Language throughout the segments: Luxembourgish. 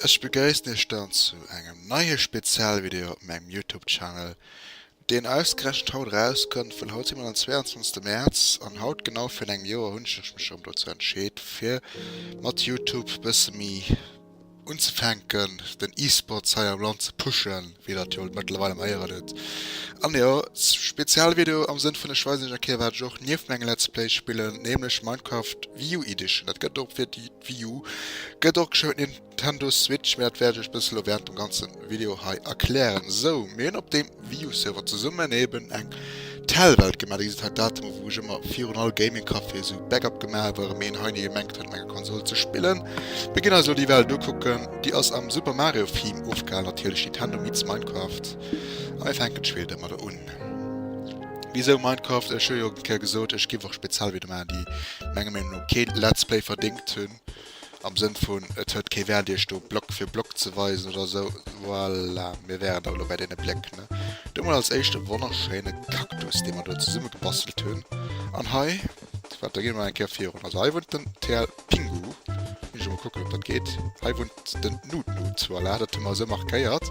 Ech begréissen iech dann zu engem neie Spezialvideo op mengem Youtube Channel, deen ausgerechent haut erauskënnt, well haut si mer den 22 Mäerz an haut genau virun engem Joer hunn ech mech erëm dozou entscheet fir mat Youtube bësse méi. unzefänken, den E-Sports hei am Land ze pushen, wéi dat jo mëttlerweil am Héieren huet. An jo, Spezialvideo am Sënn vun, ech weisen iech eng Kéier, wat ech och nieft mengem Let's Play spillen, nämlech Minecraft Wii U Edition. Dat gëtt och fir d'Wii U, gëtt och geschriwwen Nintendo Switch, mä dat wäert ech iech bëssen elo wärend dem ganze Video hei erklären. Sou, mir hunn op deem. View-Server zesummen eben eng Tell-Welt gemaat. Dir gesitt hei Datemer wou ech ëmmer virun all Gaming-Café esou Backup gemaat hu, well een hei gemengt huet mat enger Konsol ze spillen. Mir ginn eis elo déi Welt ukucken. Déi ass am Super Mario Theme ofgehalen natierlech, Nintendo meets Minecraft. A mir fänken d'Spill domadder un. Wisou Minecraft? Ech hu jo eng Kéier gesot ech giff och speziell Videoen maachen déi menger Meenung no kee Let's Play verdéngt hunn. am Sënn vun, et huet kee Wäert Iech do Block fir Block ze weisen oder esou. Voilà, mir wären awer elo bäi deene Bléck, ne? Do mol als éischt e wonnerschéine Cactus, dee mer do zesummegebastelt hunn. An hei, wat, da gi mer eng Kéier virun. Also hei wunnt den TL Pingu. Muss ech emol kucken, ob dat geet. Hei wunnt den Nut-Nut. Voilà, dat hu mer esou markéiert.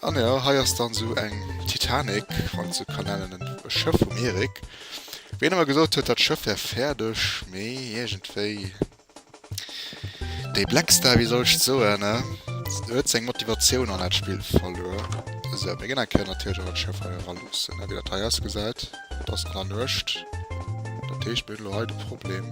An jo, hei ass dann esou eng Titanic, wann een et esou ka nennen, e Schëff vum Erik. Wéi en emmer gesot huet, dat Schëff wär fäerdeg, mee iergendwéi. Dee Blackstar, wéi soll ech et soen, ë? Huet seng Motivatioun an dat Spill verluer. Esou, mir ginn eng Kéier natierlech och dat Schëff hei eraloossen, ë, wéi dat hei ausgesäit. Et ass an der Nuecht, dat heescht, mir hunn elo hei de Problem.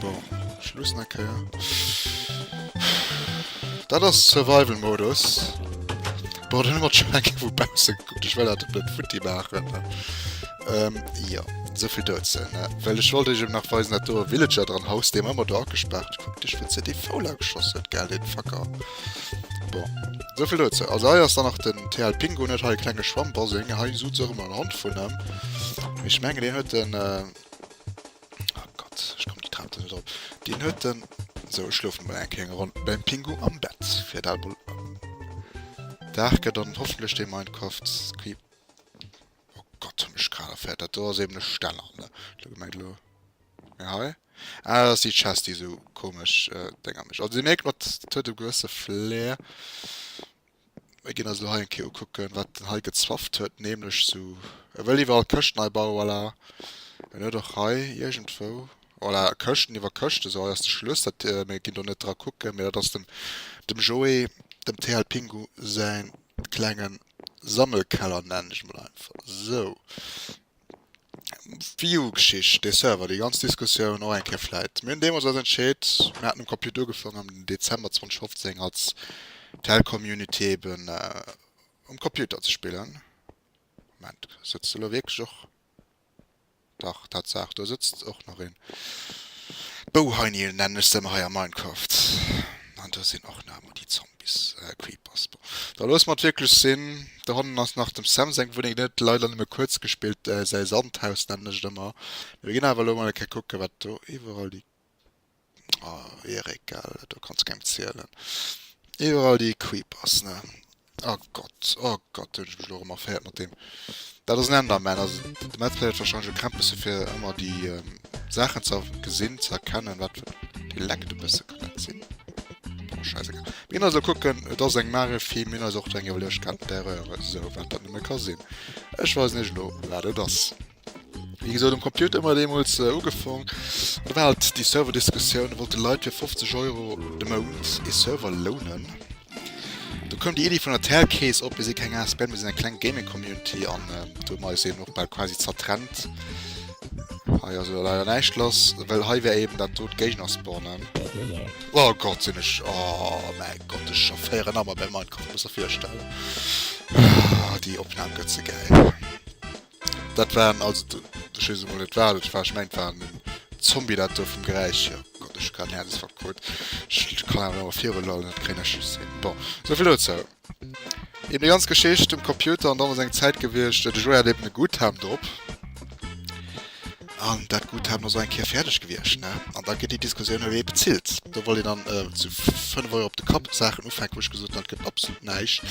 Bon, ech lussen eng Kéier. Dat ass Survival-Modus. Bon, dann hu mer schon eng Kéier vu bausse gekuckt. Ech well dat op net futti maachen. Ähm, jo. Souvill dozou, ne? Well ech wollt iech eben nach weisen, dat doe Villager dran, Haus, dee mer ëmmer do agespaart. Kuck dech, wou se dee Foul ageschoss huet, gell, dee Facker. Bon, souvill dozou. Also hei ass dann nach den TL Pingu, net? Hei e klenge Schwammbaseng. Hei sot se och ëmmer en Hond vun em. Mee ech mengen, deen huet en, Oh Gott, ech komm déi Trap do net op. Deen huet den. Sou, ech schlofen emol eng kéng Ronn beim Pingu am Bett fir dat emol. Dag gëtt an hoffentlech dee Minecraft Squi. Oh Gott, hunn ech grad erfäert, dat do ass eben e Steller, ne? Elo gemengt, elo. Mee hei. Ah, dat ass déi Chest, déi sou komesch Dénger mécht. Also déi mierkt mat. Dat huet e gewësse Flair. Mir ginn eis elo hei eng Kéier ukucken, wat en hei gezwafft huet, nämlech esou, e wëll iwwerall d'Këscht nei bauen, voilà. En huet och hei iergendwou, voilà, Këschten iwwer Këschten, esou, hei ass de Schluss. Dat, mir ginn do net dra kucken, mee dat ass dem, dem Joé, dem TL Pingu säin klenge Sammelkeller, nennen ech emol einfach esou. D'View-Geschicht, dee Server, déi ganz Diskussioun och eng Kéier vläit. Mir hunn deemools eis entscheet, mir haten um Computer ugefaangen am Dezember 2015 als Telcommunity eeben um Computer ze spillen. Moment, sëtzt elo wierklech och, dach Tatsaach, do sëtzt och nach een. Bouheinil nennen ech se emmer hei a Minecraft an do sin och nach emmer déi Zombies, Creepers. Bon, da loosse mer et wierklech sin. Do hannen ass nach dem Sam seng Wunneng, deen huet leider nëmme kuerz gespillt, säi Sandhaus nennen ech et emmer. Mee mir gin awer elo mol eng Kéier kucken, wat do iwwerall déi, oh Erik, gell, do kanns kengem zielen, iwwerall déi Creepers, ne. Oh Gott, oh Gott, hunn ech mech elo erëm erféiert mat deem. Dat ass en Enderman. Also, de Metz pléiert warscheinlech e Krämpesse fir ëmmer déi ähm, Saachen ze gesinn, ze erkennen, wat fir de lenkt e bësse kann dat sinn. Oh, scheißegal. Mir also kucken, et ass eng Mare Film, mir also och eng iwwerlecht kann d'Erreur, so wat dat nëmme ka sinn. Ech weisen iech elo, wat et ass. Wéi gesot um Computer mat deemools äh, ugefong. Da war halt déi Serverdiskussioun, wollt de Leit fir 50 Euro de Mount e Server lounen. Du koum déi Idee vun der Telkees op, mir si keng ASB, mir sinn eng kleng Gaming-Community an äh, du mei sinn och bal quasi zertrennt. Hei ass jo leider näischt lass, well hei wär eben dat dot Géigner spawnen. Oh Gott, sinn ech... Oh mein Gott, ech scho féieren Ammer bei Minecraft, muss er virstellen. Ah, déi Opnam gëtt ze geil. Dat waren also den, ech weess emol net wat et war, ech mengen et war en Zombie dat do vum Geräisch hier. Oh Gott, ech hu grad en Häerzdesfall krut. Ech kann awer awer viruloen, dat kréien ech just hin. Bon, esou vill dozou. Iwwer déi ganz Geschicht um Computer an dann ass eng Zäit gewiescht, de Joueur hat eben e Guthaben drop. An dat Guthaben ass och eng Kéier fäerdeg gewiescht, ne? An da gëtt déi Diskussioun, Wee bezilt? Do wollt een dann äh, zu 5 Euro op de Kapp Saachen ufänken, wou ech gesot hunn, dat gëtt absolut näischt.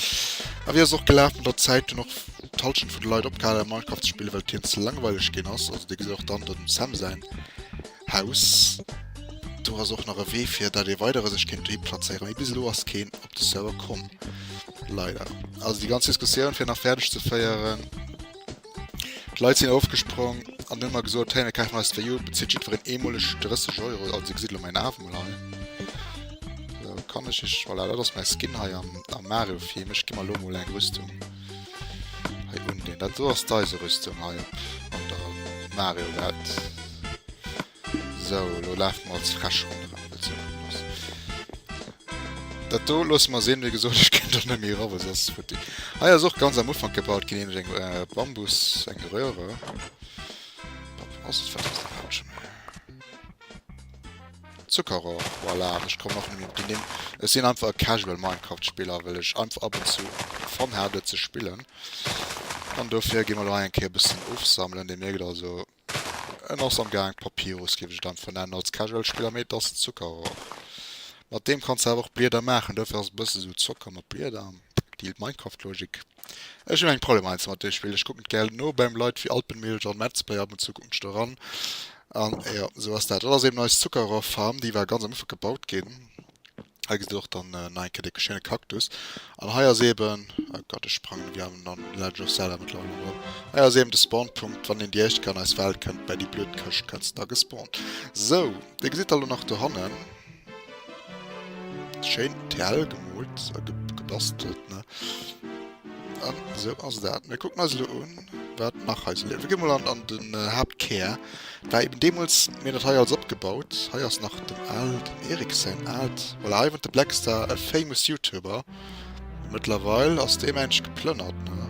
A wéi ass och gelaf mat der Zäit, hunn och d'Halschent vun de Leit opgehal am Minecraft ze spillen, well hien ze langweileg ginn ass. Also Dir gesitt och dann dem Sam säin Haus. Do ass och nach e Wee fir dat ee weidere sech kéint dohi plazéieren. Mee bis elo ass keen op de Server komm. Leider. Also déi ganz Diskussioun fir nach fäerdeg ze féieren. D'Leit sinn ofgesprong an hunn mer gesot, hey mir kafen eis d'Wii U, bezitt jiddwereen eemoleg 30 Euro. Also Dir gesitt elo mäin Aaf emol hei. Sou, kann ech iech, voilà, dat ass mäi Skin hei am Mario-Film. Ech gi mer elo emol eng Rüstung. Hei un den dat soass deise Rüstung hei an der Mario Welt sou lo laf mer als fresch run Dat do loss mer sinn wéi gesot ech kennt net méi ra ass fut Hei ass och ganz am Ufang gebaut gin eng äh, Bambus eng Röhre. Zuckerrohr, voilà, an ech kommen och net méi op déi Nimm. Ech sinn einfach e casual Minecraft Spiller, well ech einfach ab und zu Fun hat et ze spillen, an dofir gi mer elo hei eng Kéier e bëssen ofsammelen. Dir mierkt also, en ass am gaang, Papyrus géif ech et einfach nennen als casual Spiller, mee et ass en Zuckerrohr. Mat deem kanns de awer och Blieder maachen, dofir ass et e bësse sou Zocker mat Blieder, déi Minecraft Logik. Ech hun eng Problem eins mat dee Spillen, ech kucken d'gären no beim Leit wéi Alpenmilch an Metzbay, ab und zu kucken ech do ran an jo sou ass dat. Dat ass eben eis Zuckerrohr Farm, déi war ganz am Ufank gebaut gin, hei gesit der och dann nach eng Kéier dee schéine Cactus an hei ass eben, oh Gott ech sprangen ewéi an an Legend of Zelda mëttlerweil erëm, hei ass eben de Spawnpunkt wann een déi éischt Kéier an eis Welt kënnt, bäi déi blöd Këscht kënnst da gespawnt. Sou, déi gesitt der lo nach dohannen. Schéin d'Hell gemoolt a gebastelt, ne? An esou ass dat. Mir kucken eis elo un, wat nach hei esou leeft. Mir gi mol an den Haaptkär. Dat war eben deemools, mir hunn dat hei alles opgebaut. Hei ass nach dem Al, dem Erik säin aalt, voilà, hei wunnt de Blackstar, e famous Youtuber. Mëttlerweil ass dee Mensch geplënnert, ne?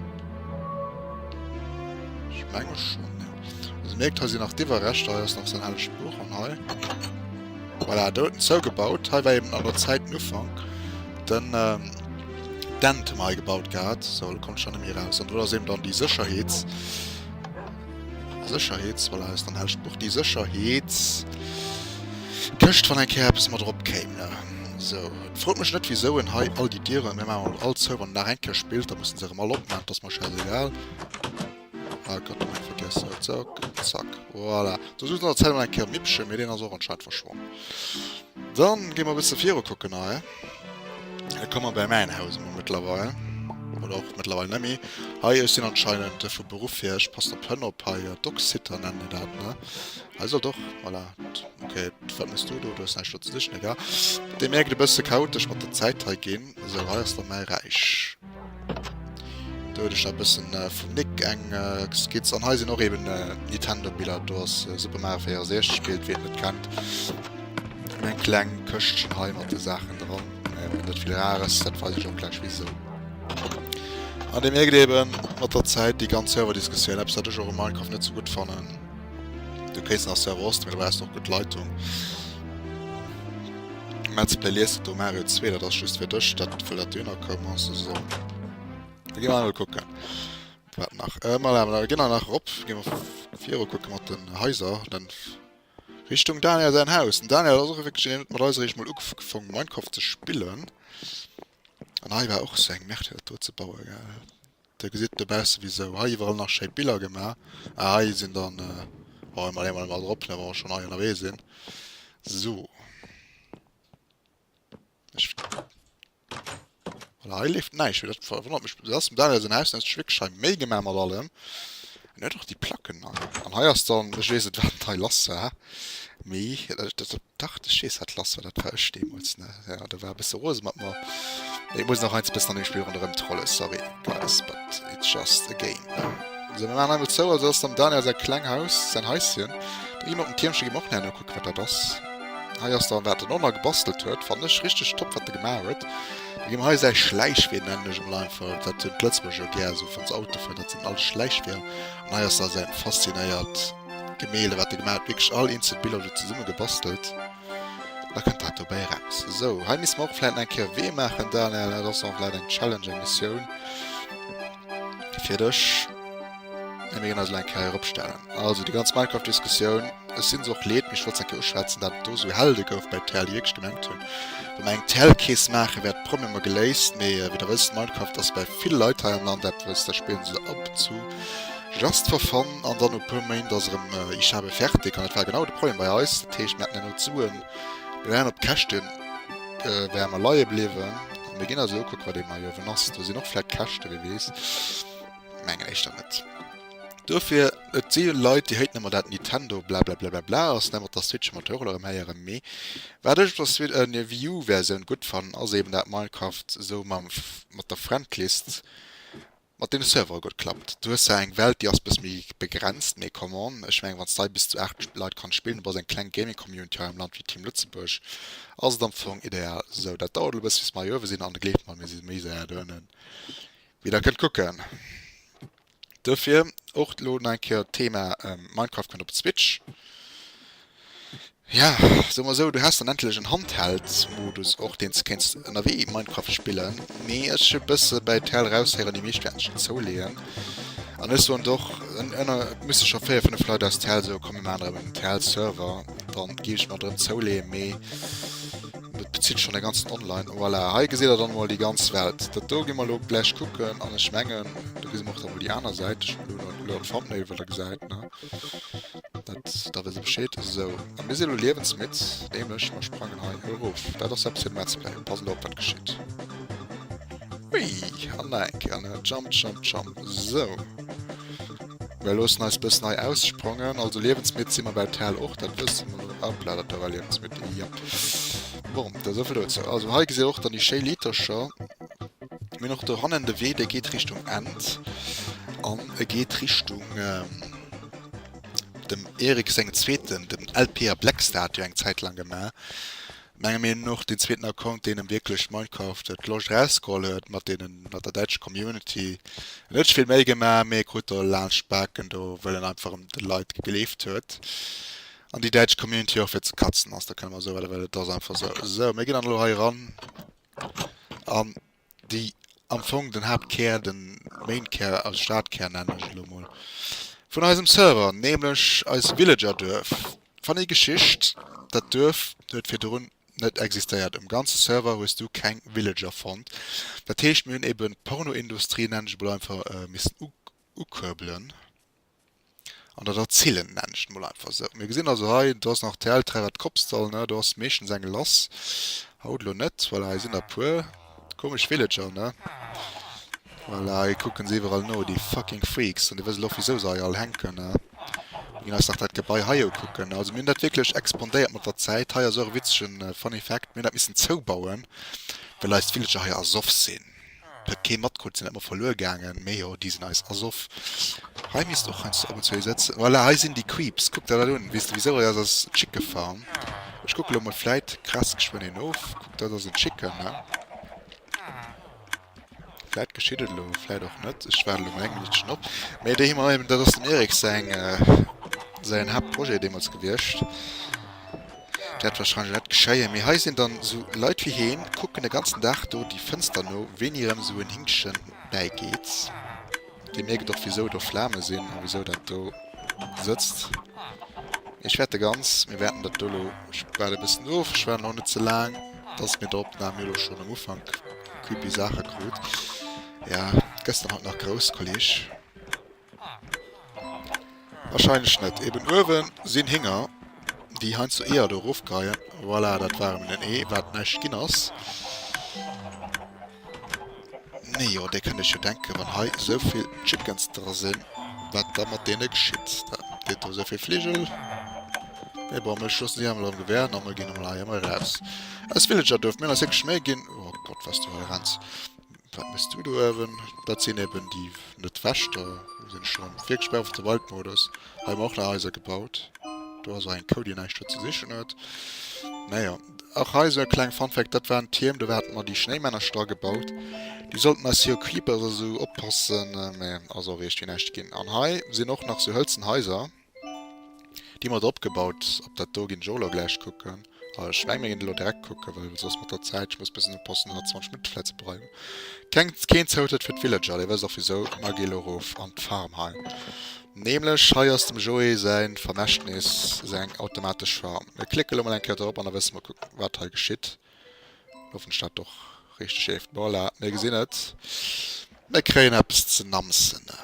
Ech menge schon, ja. Also mierkt, hei sinn nach d'Iwwerreschter, hei ass nach sein helleg Buch an hei. Voilà, do huet en zougebaut. Hei war eben an der Zäit den Ufank. Den ähm, Dent hun mer hei gebaut gehat. So, lo konnt ech dann net méi raus. An do ass eben dann déi Sécherheets... Sécherheets, voilà, ass dann helleg Buch. Déi Sécherheets... Këscht, wann eng Kéier eppes mat erop kéim, ne? So. Frot mech net wisou en hei all déi Dieren, mir maachen emol all zou wann en nach eng Kéier spillt, da mussen se erem all opmaachen, et ass mer schäisegal. Ah Gott, ech hunn vergiessen dat Sack, zack, voilà. Do sucht an der Zäit emol eng Kéier en Mippchen, mee deen ass och anscheinend verschwonnen. Dann ginn mer e bësse viru kucken hei. Da komme mer bäi mäin Haus emol mëttlerweil, oder och mëttlerweil net méi. Hei ech sinn anscheinend vu Beruff hier, ech passen op Hënn op hei, Dog-Sitter nennen déi dat, ne? Hei soll doch voilà okay wat muss du do du hues näischt do ze sichen egal dee mierkt e bësse chaotesch mat der Zäit hei ginn esou hei ass der mäi Räich do huet ech der e bëssen vum Nick eng Skizz an hei sinn och eben Nintendo Biller do ass Super Mario 64 Bild wien et net kennt eng kleng Këschtchen hei mat de Saachen dran net vill Rares dat weis ech och gläich wisou an dee mierkt eben mat der Zäit déi ganz Serverdiskussioun eppes wat ech och u Minecraft net sou gutt fannen. Du kéins nach Server Ost, mee do brauchs de och gutt Leitung. Metz Play liest et do Mario 2, dat ass just fir dech, dat wëll dat du ënnerkomm ass. Also, da gi mer emol kucken. Wat nach? Äh, mal awer, da ginn wir nach erop. Gi mer viru kucke mat den Haiser. Dann Richtung Daniel säin Haus. Den Daniel ass och wierklech een, mat eis eréischt mol ugefong Minecraft ze spillen. An hei war och seng Merde, dat do ze baue, gell. Dir gesitt dobausse wisou hei iwwerall nach schéi Biller gemaach. Ah hei sinn dann, oh ech maache mol emol drop hei wa mer schonn hei ënnerwee sinn. Sou. Ech. Voilà hei leeft näischt méi, dat verwonnert mech, dat ass, dat ass en Haus aus Schwickschei méi gemaach mat allem. Mir hat och déi Placken an an hei ass dann, ech weess net wat dat hei lass war, mee dat dacht ech jees wat lass war, dat war ech deemools ne, jo do war e bësse rose mat mer, mee et muss nach eins bëssen an dem Spill ronderëm trollen, sorry guys but it's just a game ne. Sou mir maachen hei mol zou, also dat ass dem Daniel säi kleng Haus, säin Haischen, do gi mer op den Tiermche gi mer och nach nokucken wat dat ass, hei ass dann wat en och nach gebastelt huet, fannen ech richteg top wat e gemaach huet. Da gi mer hei säi Schläichwee nennen ech emol einfach, dat hunn d'Lëtzebuerger jo gär esou, wann se Auto fueren, dat sinn alles Schläichweeër. An hei ass da säin faszinéiert Gemälde wat e gemaach huet, wierklech all eenzel Biller do zesumme gebastelt. Da kënnt dat dobäi eraus. Sou, hei misste mer och vläicht nach eng Kéier Wee maachen, Daniel, dat ass och vläicht eng Challenge, eng Missioun. fir dech. Mir ginn eis eng Kéier eropstellen. Also déi ganz Minecraft-Diskussioun, ech sinn se och leet, mee ech wollt se eng Kéier uschwätzen, datt et do esou hell de gouf bei Tel, déi wierklech gemengt hunn, wa mer eng Tel Keess maachen, wäert d'Problemer geléist. Mee wéi der wësst, Minecraft ass bei ville Leit hei am Land eppes, da spillen se ab und zu just for fun an dann no e puer Méint ass erëm Ich habe fertig. An dat war genau de Problem bei eis. Dat heescht, mir haten herno d'Suen, mir waren op Käschte wäre mer leie bliwwen. Mir ginn also ukuck, wat ee mei uewen ass. Do sinn och vläit Käschte, wie weess. Mengen éischter net. Dofir, et si jo Leit, déi haten ëmmer dat Nitendo blablablablabla ass net, dass d'Switch mer et och erëm héieren. Mee wat ech op der Wii U-Versioun gutt fannen, ass eeben dat Minecraft esou mat der Friendlist. Mat deem Server gutt klappt. Du hues zwar eng Welt déi ass bëss méi begrenzt, mee come on, ech meng wanns dei bis zu 8 Leit kanns spillen, du bass eng kleng Gaming Community hei am Land wéi Team Lëtzebuerg, ass et am Fong ideal. Sou dat dauert elo bëss bis mer hei uewe sinn an gleeft mer mir si méi säier do ënnen wéi der kënnt kucken. Dofir och elo nach eng Kéier Thema Minecraft kënnt op d'Switch. Ja, soe mer esou, du has dann endlech en Handheld-Modus och, deen s de kéints ënnerwee Minecraft spillen. Mee ech e bësse bäi d'Hell raushéieren, déi meescht wäerten ech net zouleeën. An ech soen och, en ënner, et musse scho véier, fënnef Leit aus d'Hell soen, komm mir maachen erëm en d'Hell-Server, dann géif ech mer drëm zouleeën. Mee dat bezitt schonn de ganzen Online. Voilà, hei gesitt der dann emol déi ganz Welt. Dat do gi mer elo gläich kucken. An ech mengen, do gesi mer och dann emol déi aner Säit. Ech hunn elo nach e coolere Thumbnail, wou der gesäit, ne. Da wësse Bescheed. Esou, a mir sinn elo liewensmidd, nämlech mer sprangen hei erof. Dat ass eppes fir de Let's Play. Passen op, wat geschitt. Hui! An nach eng Kéier, ne? Jump, jump, jump. Esou. Mir loossen eis e bëssen hei aussprongen. Also liewensmidd si mer well d'Hal och, dat wësse mer. Hopla, dat do war liewensmidd, jop. Bon, da esou vill dozou. Also hei gesitt Dir och dann déi schéi Litercher. Mir och do hannen de Wee, de geet Richtung End an e geet Richtung ähm, dem Erik seng zweeten den LPA Black Stat jo eng Zäit lang gemaach. Menge mir noch den zweeten Account, deen em wierklech Minecraft et Loscht rausgeholl huet mat deenen mat der däitsch Community. Net vill méi gemaach, mee krut do laanscht d'Baken do, well en einfach em de Leit gegleeft huet. An déi däitsch Community och fir ze katzen ass, da kënne mer esou well, well et ass einfach esou. Esou, mir ginn dann elo hei eran. An déi am Fong den Haaptkär, den Mainkär, als Stadkär nennen ech elo mol, vun eisem Server, nämlech eis Villagerduerf. Funny Geschicht, dat Duerf huet virdrun net existéiert. Um ganze Server hues du keng Villager fonnt. Dat heescht mir hunn eben d'Pornoindustrie, nennen ech emol einfach, missen ukuerbelen. An dat erzilen d'Männchen mol einfach esou. Mir gesinn also hei, do ass nach d'Häl dra wat d'Kops soll, ne? Do ass meeschtens eng lass. Haut elo net. Voilà, hei sinn der e puer. Komesch Villager, ne? Voilà, hei kucke se iwwerall no, déi fucking Freaks. An déi wësse lo, wisou se hei all hänken, ne? Mir ginn eis nach dat Gebai hei ukucken, ne? Also mir hunn dat wierklech expandéiert mat der Zäit. Hei ass och e witzegen Funny Fact, Mir hunn dat missen zoubauen, well eis d'Villager hei ersoff sinn. Et huet kee matkrut, sinn dat mer verluer gaangen? Mee jo, déi sinn eis ersoff. Hei misst och heiansdo ab und zu ee sëtzen. Voilà, hei sinn déi Creeps. Kuck der dat un. Weess de wisou? Et ass eis Chicken Farm. Ech kucke lo mol, vläit kratzt geschwënn een of. Kuck, dat ass en Chicken, ne? Vläit geschitt et elo, vläit och net. Ech waarde lo mol eng Minuttchen op. Mee déi hu mer eben, dat ass dem Erik säin, säin Haaptprojet deemools gewiescht. Wärt wahrscheinlech net geschéien, mee hei sinn dann sou Leit wéi heen, kucken den ganzen Dag do déi Fënster no, wéini rem sou en Hinktchen bäi geet. Dir mierkt och wisou do Flamen sinn a wisou dat do sëtzt. Ech wärt de ganz, mir wäerten dat do lo bal e bëssen of, ech war nach net ze laang dass mir der Opnahm jo lo schon am Ufank creepy Saachen krut, ja gëschter hat nach grouss Kolleg. Wahrscheinlech net. Eben uewen sin Hinger déi heiansdo Eeër do erof kreien. Voilà dat war eben en Ee waat näischt gin ass. Nee jo dir kennt iech jo denken wann hei souvill Chickens dra sin waat da mat deene geschitt. Dat deet do souvill Fligel. Mee bon mir schoossen déi emol am Gewehr an mir gin emol hei emol raus aus Villagerduerf. Mir hun eis wierklech Méih gin. Oh Gott was du hei renns. Wat mess du do ëwen? Dat sin eben déi net Wächter wou sin ech dran. Wierklech bei of the wild Modus. Hei hu mer och nach Haiser gebaut. Do ass och eng Kou déi näischt do ze sichen huet. Naja och hei sou e kleng Funfact, dat waren d'Tierm do haten mer déi Schnéimännercher dra gebaut. Déi sollten eis jo Creeper a sou oppassen, mä ass och eeischt fir näischt gin. An hei sin och nach sou hëlzen Haiser. Déi mat opgebaut, op dat do ginn ech och elo gläich kucken. A ech meng mir ginn elo direkt kucken, well soss mat der Zäit, ech muss bis un e Posten 120 Minutte vläit ze bleiwen. Keng, keen Zoutrëtt fir d'Villager, dir wësst och wisou. Mer gi elo erof an d'Farm hei, nämlech hei ass dem Joé säi Vermächtnis, seng automatesch Farm. Mir klicke elo mol eng Kéier dorop an da wësse mer kuck wat hei geschitt. Hoffen ech dat och richteg eeft. Voilà, mir gesinn et, mir kréien eppes ze namsene.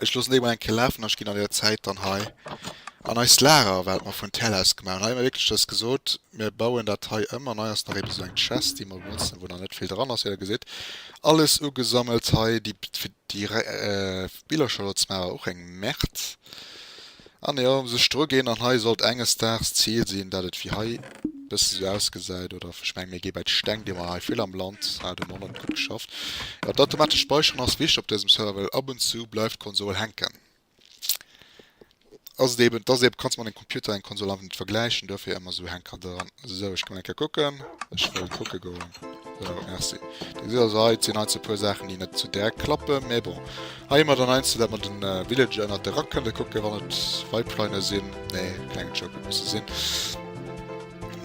Ech loossen déi mol eng Kéier lafen a ech ginn an der Zäit dann hei an eist Lager, wat mer vun Tell aus gemaach hunn. Hei hu mer wierklech dës gesot, mir bauen dat hei ëm an hei ass nach eeben esou eng Chest, déi mer benotzen, wou nach net vill dran ass, wéi der gesitt. Alles ugesammelt hei, déi, fir déi Billercher elo ze maachen, war och eng Merde. An jo, ëm sech dru ginn. An hei sollt enges Daags d'Zil sinn, dat et wéi hei bësse sou ausgesäit, oder ech mengen, mir gi bäi d'Steng, déi mer hei vill am Land hat um Online gutt geschafft. Jo, d'automatescht Späicheren ass wichteg op dësem Server, well ab und zu bleift d'Konsol hänken. Ass et eben, et ass eben, du kanns mat engem Computer eng Konsol einfach net vergläichen, duerfir ëmmer sou Hänker dran. Sou ech kommen eng Kéier kucken. Ech wëll kucke goen. Sou merci. Dir gesitt also hei et sinn heiansdo e puer Saachen déi net sou direkt klappen, mä bon. Hei hu mer dann heiansdo dat mer de Villager ënnert de Rack kënne kucken wann et Weibleine sinn. Nee keng Joke et musse sinn.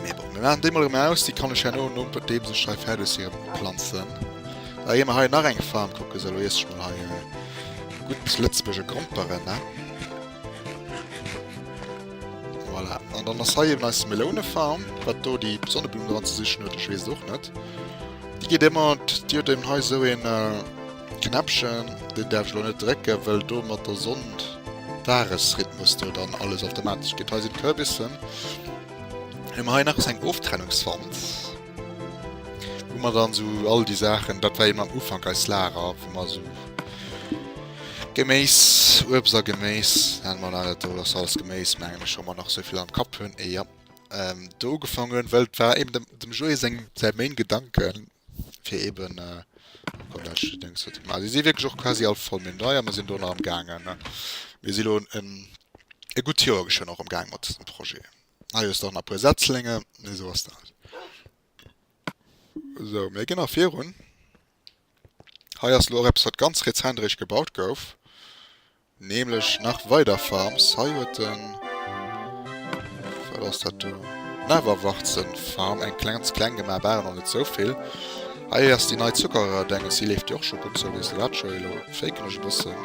Mä bon mir maachen déi mol erëm aus. Déi kann ech herno nodeems ech hei fäerdeg si rëm planzen. Da gi mer hei nach eng Farm kucken. Sou elo iesse ech mol hei e gutt lëtzebuerger Gromperen ne. Voilà, an dann ass hei eben eis Melounefarm. Wat do déi Sonneblumm dran ze sichen huet, ech weess et och net. Déi geet ëmmer, déi huet eben hei esou een Knäppchen, deen däerf ech elo net drécken, well do mat der Sonn Dagesrhythmus do dann alles automatesch geet. Hei sinn d'Kürbissen. Hunn mer hei nach esou eng Oftrennungswand. Wou mer dann sou all déi Saachen, dat war eben am Ufank eist Lager, wou mer sou Geméis, Uebst a Geméis, hat mer nach net do, dass alles Geméis, mengen ech, wa mer nach souvill am Kapp hunn, ee jo, do ugefaangen hunn, well et war eben dem dem Joé seng säi Main Gedanke fir eben komm dat ech Dëngs fir ze maachen. Si si wierklech och quasi all voll, mee nei a mer sinn do nach amgaangen. Mir si elo en e gutt Joer geschwënn och amgaangen mat dësem Projet. Ah jo, stoch nach puer Setzlinge, mee sou ass dat. Sou, mir ginn nach virun. Hei ass lo och eppes wat ganz rezent eréischt gebaut gouf, nämlech nach weider Farms. Hei huet de, wat ass dat do, Neverwarzen Farm eng ganz kleng gemaach, bal awer net sou vill. Hei ass déi nei Zuckererdénges, déi leeft jo och scho gutt, sou wéi se dat scho, elo faken ech e bëssen,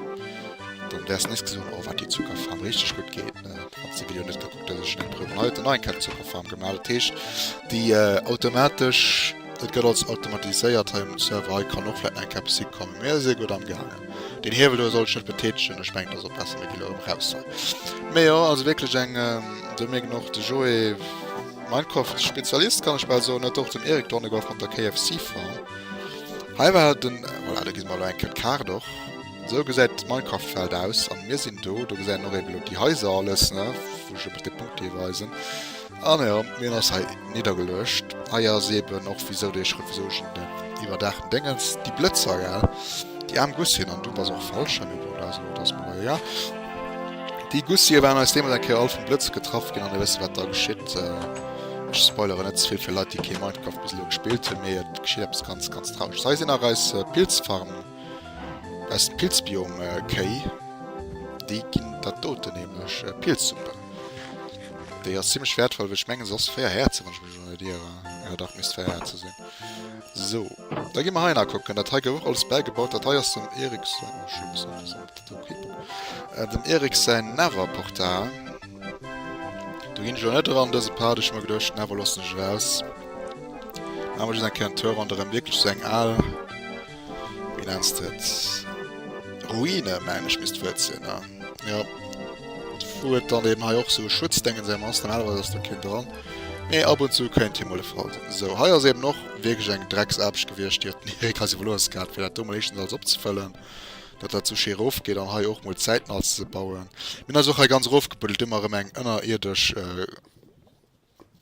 dann wäers nees gesinn, oh wat déi Zuckerfarm richteg gutt geet. Wann se Video net gekuckt huet, ech en emprüwen. Hei huet en nach eng Kett Zucker Farm gemaach. Dat heescht, déi automatesch, dat gëtt alles automatiséiert hei um Server. Hei kann och vläit nach eng Kéier eppes hikommen. Mir si gutt amgaangen. Deen Hiewel do soll ech net betätegen. Ech mengen, dat ass och besser, mir gi lo erëm raus hei. Mee jo, also wierklech eng, do mierkt een och, de Joé, Minecraft-Spezialist kann ech bal soen, huet och den Eric Dorneger vun der KFC Farm. Hei war den, voilà, do gesi mer elo eng Kéier d'Kaart och. Sou gesäit d'Minecraft-Welt aus an mir sinn do. Do gesäit een och eben elo déi Haiser alles, ne, wou ech eben dee Punkt géif weisen. An jo, meen ass hei niddergeluecht. Hei ass eben och wisou dee Schrëtt, wisou ech en den iwwerdaachten Déngens, déi Blëtzer, gell, déi aarm Gussien, an du bass och falsch hei, mee bon, dat ass elo dat, ma egal. Déi Gussië waren eis deemools eng Kéier all vum Blëtz getraff ginn an dir wësst wat da geschitt. Ech spoileren net ze vill fir Leit, déi kee Minecraft bis elo gespillt hunn, mee et geschitt eppes ganz, ganz Trauregt. Hei sinn nach eis Pilzfarmen. Aus dem Pilzbiom Kéi, déi ginn dat doten nämlech Pilzsuppe. Déi ass zimlech wäertvoll, well ech mengen se ass 4 Häerzer wann ech mech elo net ieren. Jo dach, misst 4 Häerzer sinn. Sou, da gi mer hei nakucken. Dat hei gouf och alles bäigebaut. Dat hei ass dem Erik säin, oh ech muss awer sinn op der Wikipedia, dem Erik säin Netherportal. Do ginn ech elo net eran, dëse Part. Ech hu mer geduecht, Nether loossen ech eraus. Maache mer just eng Kéier en Tour ronderëm, wierklech sou eng al. Wéi nenns de et? Ruine mengen ech misst d'Wuert sinn, ne? Jo. Wou et dann eben hei och sou e Schutzdéngeseem ass, normalerweis ass do keen dran, mee ab und zu kéint hie mol e Fall sinn. Sou, hei ass eben och wierklech eng Drecksaarbecht gewiescht, déi huet den Erik eis iwwerlooss gehat, fir dat do mol éischtens alles opzefëllen, datt dat sou schéi erofgeet, an hei och mol zäitnah alles ze bauen. Mir hunn eis och hei ganz erofgebuddelt, du mir erëm eng ënnerierdesch.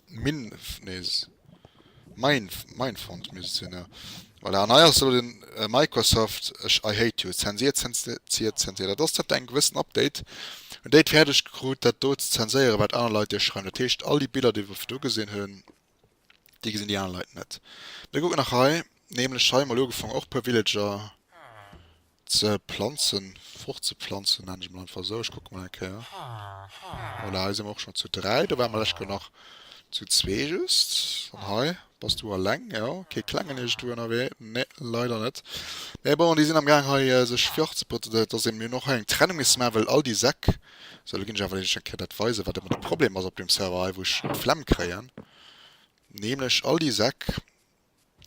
Minf, nees, Mainf, Mainfront misst et sinn, jo voilà. An hei ass elo den Microsoft, ech, I hate you, zensiert, zensiert, zensiert. Dat ass dat eng gewëssen Update, en déi et fäerdeg krut dat do ze zenséieren wat aner Leit iech schreiwen. Dat heescht all déi Biller déi wer virdu gesinn hunn, déi gesinn déi aner Leit net. Mir kucken nach hei, nämlech hei mol ugefaangen och puer Villager. Ze planzen, fortzeplanzen nennen ech mol einfach esou. Ech kucke mol eng Kéier. Voilà, hei si mer och schonn zu dräi. Do ware mer lech gëll nach zu zwee just. An hei bass du eleng, jo. Kee klengen iergendwou ënnerwee, nee, leider net. Mee bon, déi sinn am Gaang hei sech virzebereeden, dat ass ee. Mir hunn och hei eng Trennung misse maachen, well all déi Säck. Sou, elo ginn ech awer lech eng Kéier dat weisen, wat ëmmer de Problem ass op deem Server hei, wou ech d'Flemm kréien, nämlech all déi Säck,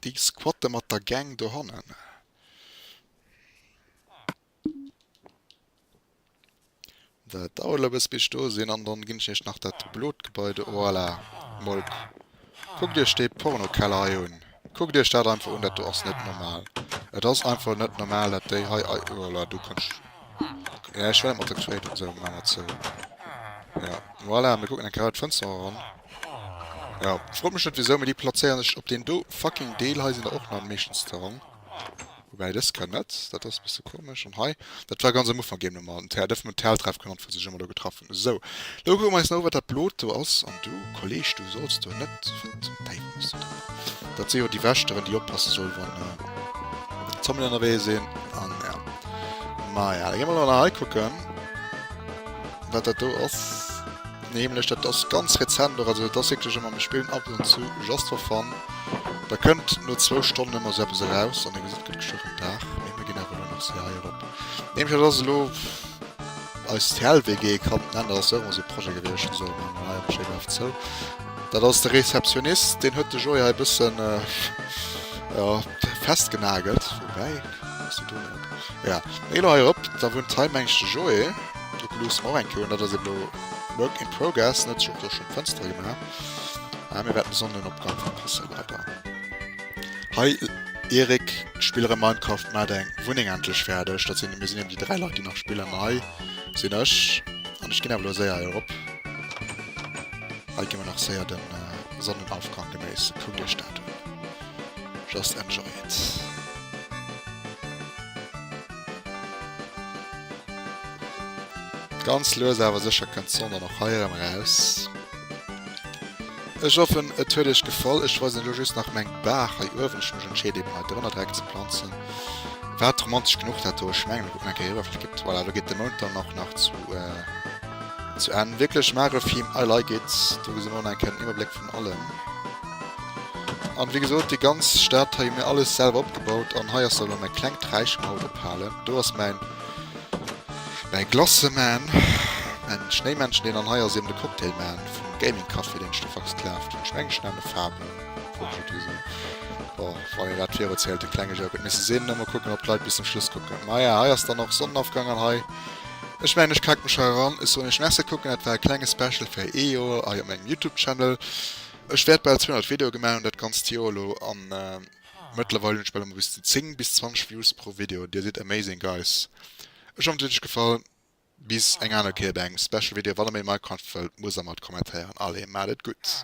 Déi squatte mat der Gang dohannen. Dat dauert lo bëss bis ech do sinn an dann ginn ech iech nach dat blot Gebai do. Voilà, mol kuckt iech dee Pornokeller hei un. Kuckt iech dat einfach un, dat do ass net normal. Et ass einfach net normal dat déi hei. Voilà, do kann ech, jo ech well mat der Kréit an esou. Maacher zou. Jo, voilà, mir kucken eng Kéier hei d'Fënster eran. Jo ech fro mech net wisou mee déi plazéieren sech op deen do fucking Deel hei sinn der och nach meeschtens ze rong woubäi dës Kéier net dat ass bësse komesch an hei dat war ganz am Ufank géint mer mat den dëffe mer den Helltreff genannt wou sech ëmmer do getraff hunn esou lo kucke mer eis no wat dat blot do ass an du Kolleg du solls do net wat zum Deiwel hues du do dat si jo déi Wächteren déi oppasse soll wann Zombien ënnerwee sinn an jo maja da gi mer elo nach hei kucken wat dat do ass. Nämlech dat ass ganz rezent och, also dat ass wierklech ëmmer, mir spillen ab und zu just for fun, da kënnt no zwou Stonnen ëmmer esou eppes eraus an dir gesitt, et gëtt geschwë rem Dag, mee mir ginn awer elo nach se hei erop. Nämlech dat ass elo eis TL-WG, kann nennen, dat ass ëmmer esou e Projet gewiescht, esou elo maache mer hei einfach schéi brav zou, dat ass de Rezeptionist, deen huet de Joé hei e bëssen, jo, festgenagelt, woubäi, hues de do en. Ja, ech gi lo hei erop, da wunnt hei mengs de Joé, d'Druck Loose mer och eng Kéier un, dat ass eben lo Work in Progress, en huet sech och do schonn d'Fënstere gemaach, mir wäerten de Sonnenopgang verpasse leider. Hei Erik, spill erëm Minecraft, maach deng Wunneng endlech fäerdeg, dat sinn, mir sinn eben déi 3 Leit déi nach spillen, ma hei sinn ech an ech ginn awer lo séier hei erop, hei gi mer nach séier de Sonnenaufgang genéissen, kuckt iech dat un. Just enjoy it. Ganz lues awer sécher kënnt d'Sonn dann och hei erëm eraus. Ech hoffen et huet iech gefall. Ech weisen elo just nach meng Baach hei uewen. Ech hunn mech entscheet eben hei drënner direkt ze planzen. Wat romantesch genuch dat do. Ech mengen ech kucken eng Kéier eriwwer. Flott. Voilà, elo geet de Mound dann och nach zu zu Enn. Wierklech magefen Film. I like it. Do gesi mer elo nach eng Kéier den Iwwerbléck vun allem. An wéi gesoot, déi ganz Stadt hei hun mir alles selwer opgebaut an hei ass dann elo mäin klengt Räich maut ophalen. Do ass mäin Glace Man, mäin Schnéimännchen deen an hei ass eben de Cocktail Man vum Gaming Café deen ech do versklavt hun. Ech mengen ech nenne Fabian wou ech et usoen. Bon, wann een dat viruzielt, de klenge Joke. Et misst e sinn, da mol kucken op d'Leit bis zum Schluss kucken. Maja, hei ass dann och Sonnenafgang an hei, ech mengen ech kaken mech hei eran. Ech soen iech Merci, kucken. Dat war e klenge Special fir ee Joer hei op mengem Youtube Channel. Ech wärt bal 200 Videoe gemaach hun dat ganzt Joer elo an mëttlerweil hun ech bal ëmmer bis zu 10 bis 20 Views pro Video. Dir sidd amazing guys! Ech hoffen et huet iech gefall. Bis eng aner Kéier bei engem Special Video. Wann der méi Minecraft wëllt muss der mat kommentéieren. Allez maat et gutt!